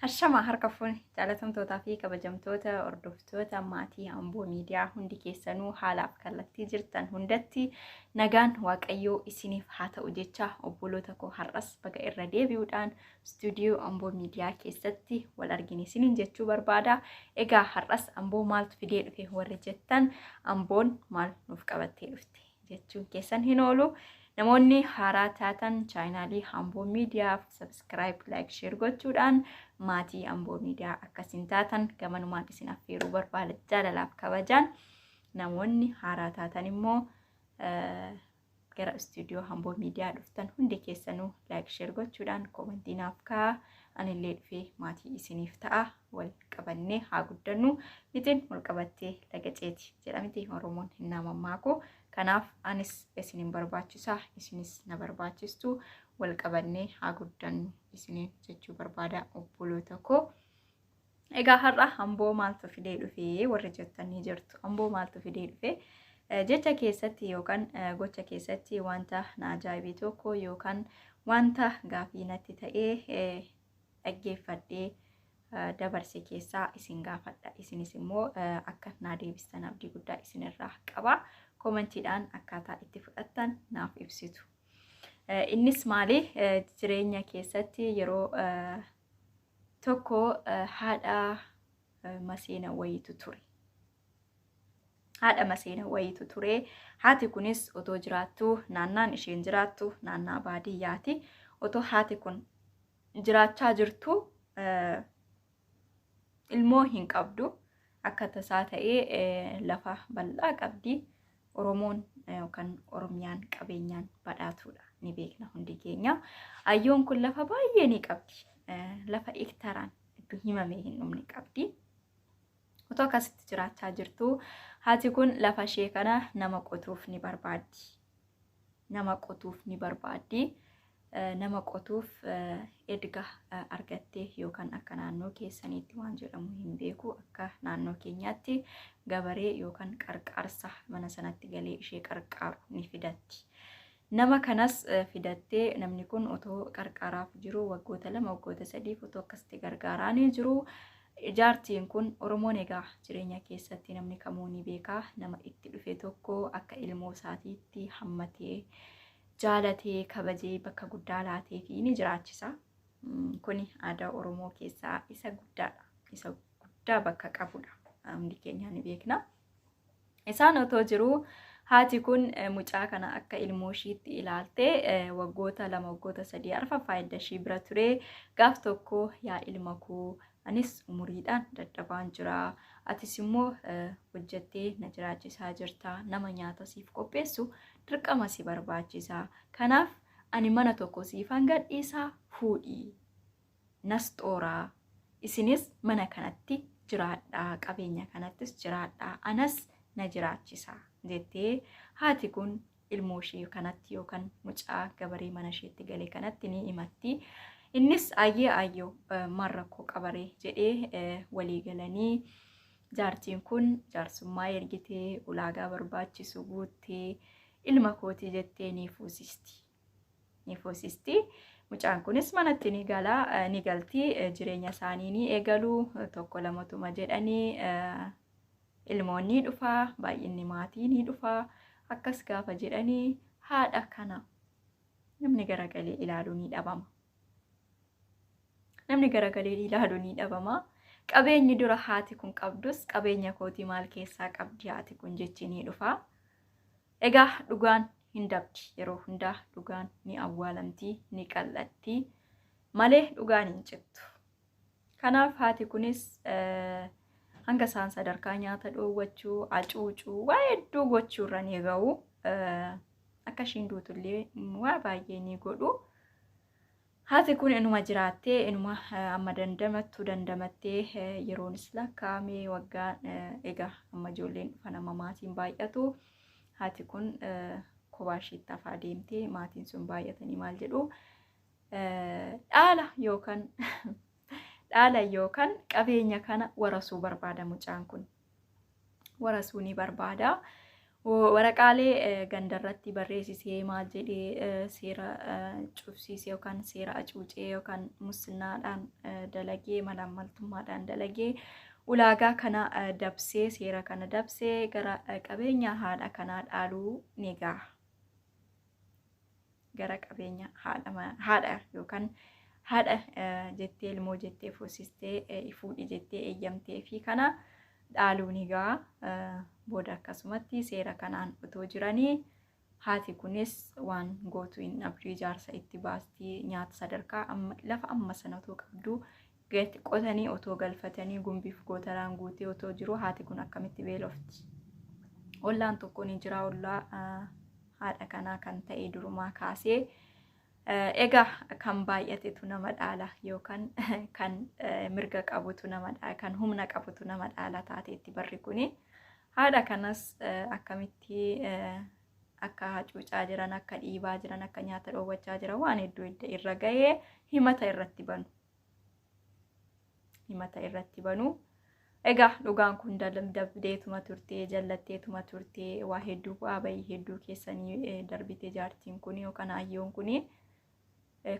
Hashama harka fuune jaalatamtootaa fi kabajamtoota hordoftoota maatii Amboo miidiyaa hundi keessanuu haalaaf kallattii jirtan hundatti nagaan waaqayyoo isiniif haa ta'u jecha obboloota koo har'as baga irra deebi'uudhaan istuudiyoo Amboo miidiyaa keessatti wal argine isiniin jechuu barbaada. Egaa har'as Amboo maaltu fidee dhufe warri jettan Amboon maal nuuf qabattee dhufte? jechuun keessan hin oolu. Namoonni haaraa taatan chaayinaalii Amboo Miidiyaaf sabiskiraayib, laayik, sheer gochuudhaan maatii Amboo Miidiyaa akkasiin taatan gamanumaan isin affeeruu barbaada jaalalaaf kabajaan. Namoonni haaraa taatan immoo gara istuudiyoo Amboo Miidiyaa dhuftan hundi keessanuu laayik, sheer gochuudhaan koomantii naaf kaa'aa. Anillee dhufee maatii isiniif ta'a. wal qabannee haa guddannu mixin wal qabattee laga ceeti jedhamti oromoon hin mammaaku kanaaf anis isin hin barbaachisa isinis na barbaachistu wal qabannee haa guddannu isiniin jechuu barbaada obboloota koo. Egaa har'a amboo maaltu fidee dhufee warri jettanii jirtu amboo maaltu fidee dhufee Eh, jecha keessatti yookaan eh, gocha keessatti wanta na ajaa'ibee tokko yookaan wanta gaafii natti ta'ee eh, dhaggeeffadhee dabarse keessaa isin gaafadha. Isinis immoo akka naa deebistan abdii guddaa isinirraa qaba. Koomentiidhaan akkaataa itti fudhattan naaf ibsitu. Innis maali jireenya keessatti yeroo tokko haadha maseena wayiitu ture. haadha maseena wayiitu ture. Haati kunis otoo jiraattu naannaan isheen jiraattu naannaa baadiyyaati. Otoo haati kun jiraachaa jirtu ilmoo hin qabdu. Akka tasaa ta'ee lafa bal'aa qabdi. Oromoon yookaan Oromiyaan qabeenyaan badhaatuudha. Ni beekna hundi keenya. Ayyoon kun lafa baay'ee ni qabdi. Lafa hektaraan iddoo himamee hin dhumne qabdi. Otoo akkasitti jiraachaa jirtuu haati kun lafa ishee kana nama qotuuf ni barbaaddi. Nama qotuuf ni barbaaddi. Nama qotuuf erga argattee yookaan akka naannoo keessaniitti waan jedhamu hin beeku akka naannoo keenyaatti gabaree yookaan qarqaarsa mana sanatti galee ishee qarqaaru ni fidatti. Nama kanas fidattee namni kun otoo qarqaaraaf jiru waggoota lama waggoota sadiif otoo akkasitti gargaaraanii jiru jaartiin kun Oromoon egaa jireenya keessatti namni kamuu ni beeka nama itti dhufe tokko akka ilmoo isaatiitti hammatee jaalatee kabajee bakka guddaa laatee fi ni jiraachisa. Kuni aadaa Oromoo keessaa isa guddaadha. Isa guddaa bakka qabudha. Hundi keenya ni beekna. Isaan otoo jiruu haati kun mucaa kana akka ilmoo ishiitti ilaalte waggoota lama waggoota sadii arfa faayidda ishii bira ture gaaf tokko yaa ilma koo anis umuriidhaan dadhabaan jira atis immoo hojjettee na jiraachisaa jirta nama nyaata siif qopheessu dirqama si barbaachisa kanaaf ani mana tokko siifan gadhiisaa fuudhii nasxooraa isinis mana kanatti jiraadhaa qabeenya kanattis jiraadhaa anas na jiraachisa jettee haati kun ilmoo ishee kanatti yookaan mucaa gabaree mana isheetti gale kanatti ni himatti. Innis ayyee ayyoo maal rakkoo qabaree jedhee walii galanii jaartiin kun jaarsummaa ergitee ulaagaa barbaachisu guuttee ilma kootii jettee ni fuusisti. ni fuusisti. Mucaan kunis manatti ni gala ni galti jireenya isaanii ni eegalu tokko lamatuma jedhanii ilmoon ni dhufa baay'inni maatii ni dhufa akkas gaafa jedhanii haadha kana namni garagalee ilaalu ni dhabama. Namni garagalee ilaalu ni dhabama. Qabeenyi dura haati kun qabdus qabeenya kootii maal keessaa qabdi haati kun jechi ni dhufa. Egaa dhugaan hin dabdi yeroo hundaa dhugaan ni awwaalamti ni qal'atti malee dhugaan hin cittu. Kanaaf haati kunis hanga isaan sadarkaa nyaata dhoowwachuu, acuucuu, waa hedduu gochuu irra ni ga'u. Akka ishiin duutullee waa baay'ee ni godhu. Haati kun inuma jiraattee inuma amma dandamattu dandamattee yeroonis lakkaa'amee waggaan egaa amma ijoolleen dhufan amma maatiin baay'atu haati kun kophaa ishiitti hafaa deemtee maatiin sun baay'atanii maal jedhu dhaala yookaan dhaala yookaan qabeenya kana warasuu barbaada mucaan kun warasuu ni barbaada. Waraqaalee gandarratti barreessisee maal jedhee seera cufsiisee yookaan seera acuucee yookaan mussinnaadhaan dalagee malaammaltummaadhaan dalagee ulaagaa kana dabsee seera kana dabsee gara qabeenya haadha kanaa dhaaluu ni gaha. gara qabeenya haadha ma- haadha yookaan haadha eh, jettee ilmoo jettee fuusistee eh, fuudhi jettee eeyyamtee fi kana dhaaluun egaa eh, booda akkasumatti seera kanaan otoo jiranii haati kunis waan gootu hin dhabdu ijaarsa itti baastii nyaata sadarkaa amma lafa amma sana otoo qabdu Gati qotanii otoo galfatanii gumbiif gootaraan guutee otoo jiru haati kun akkamitti beelofti? Ollaan tokko ni jira ollaa haadha kanaa kan ta'e durumaa kaasee egaa kan baay'atetu nama dhaala yookaan kan mirga qabutu nama dhaala kan humna qabutu nama dhaala taateetti barri kuni haadha kanas akkamitti akka hacuucaa jiran akka dhiibaa jiran akka nyaata dhoowwachaa jiran waan hedduu irra gahee himata irratti banu himata irratti banu. Egaa dhugaan kun dabdeetuma turtee jallatteetuma turtee waa hedduu bu'aa bahii hedduu keessanii eh, darbite jaartiin kun yookaan ayyoon kun.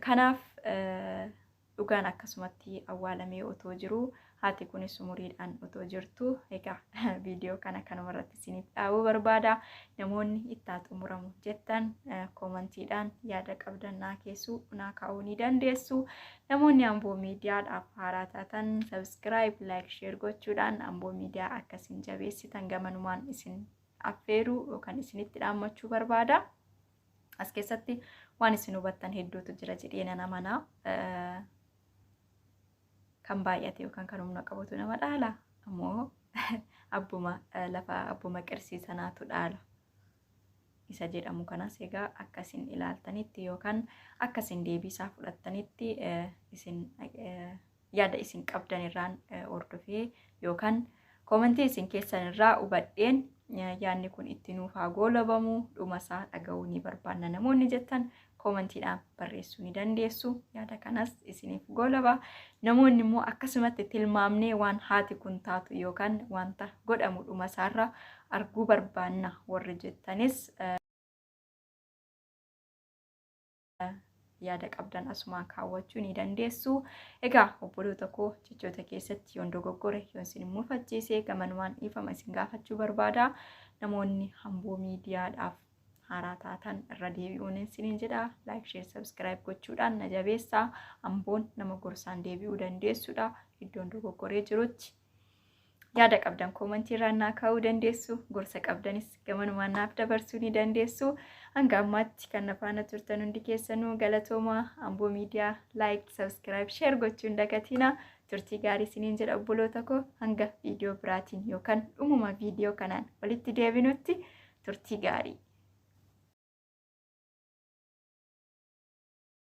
Kanaaf eh, dhugaan akkasumatti awwaalamee otoo jiru Haati kunis umuriidhaan otoo jirtuu egaa viidiyoo kana kanuma irratti isiniif dhaabuu barbaada. Namoonni itti haa xumuramu jettan koomantiidhaan yaada qabdan naa keessuu naa kaa'uu ni dandeessu. Namoonni Amboo Miidiyaadhaaf haaraa taatan sabiskiraayib, laayik, sheer gochuudhaan Amboo Miidiyaa akka isin jabeessitan gamanumaan isin affeeruu yookaan isinitti dhaammachuu barbaada. As keessatti waan isin hubattan hedduutu jira jedhee nan amanaa. kan baay'ate yookaan kan humna qabutu nama dhaala ammoo abbuma lafa abbuma qirsii sanaatu dhaala isa jedhamu kanas egaa akka isin ilaaltanitti yookaan akka isin deebiisaa fudhattanitti isin yaada isin qabdan irraan hordofee yookaan Koomentii isin keessan irraa hubadheen yaadni kun itti nuuf haa goolabamu dhumasaa dhaga'uu ni barbaanna namoonni jettan koomentiidhaan barreessuu ni dandeessu yaada kanas isiniif goolaba namoonni immoo akkasumatti tilmaamnee waan haati kun taatu yookaan wanta godhamu dhumasaarra arguu barbaanna warri jettanis yaada qabdan asumaan kaawwachuu ni dandeessu. Egaa obboloota koo jechoota keessatti yoon dogoggore yoon isin mufachiise gamanumaan dhiifama isin gaafachuu barbaada. Namoonni hamboo miidiyaadhaaf haaraa taatan irra deebi'uun isiniin jedha. Laayik, sheer, sabskiraayib gochuudhaan na jabeessaa. Hamboon nama gorsaan deebi'uu dandeessudha. Iddoon dogoggoree jirutti Yaada qabdan koomantii irraan naa kaa'uu dandeessu. Gorsa qabdanis gamanumaan naaf dabarsuu ni dandeessu. Hanga ammaatti kan na faana turtan hundi keessanuu galatooma Amboo Miidiyaa laayik, sabiskiraayib, sheer gochuu hin dagatina. Turtii gaarii isiniin jedha obboloota koo hanga viidiyoo biraatiin yookaan dhumuma viidiyoo kanaan walitti deebinutti turtii gaarii.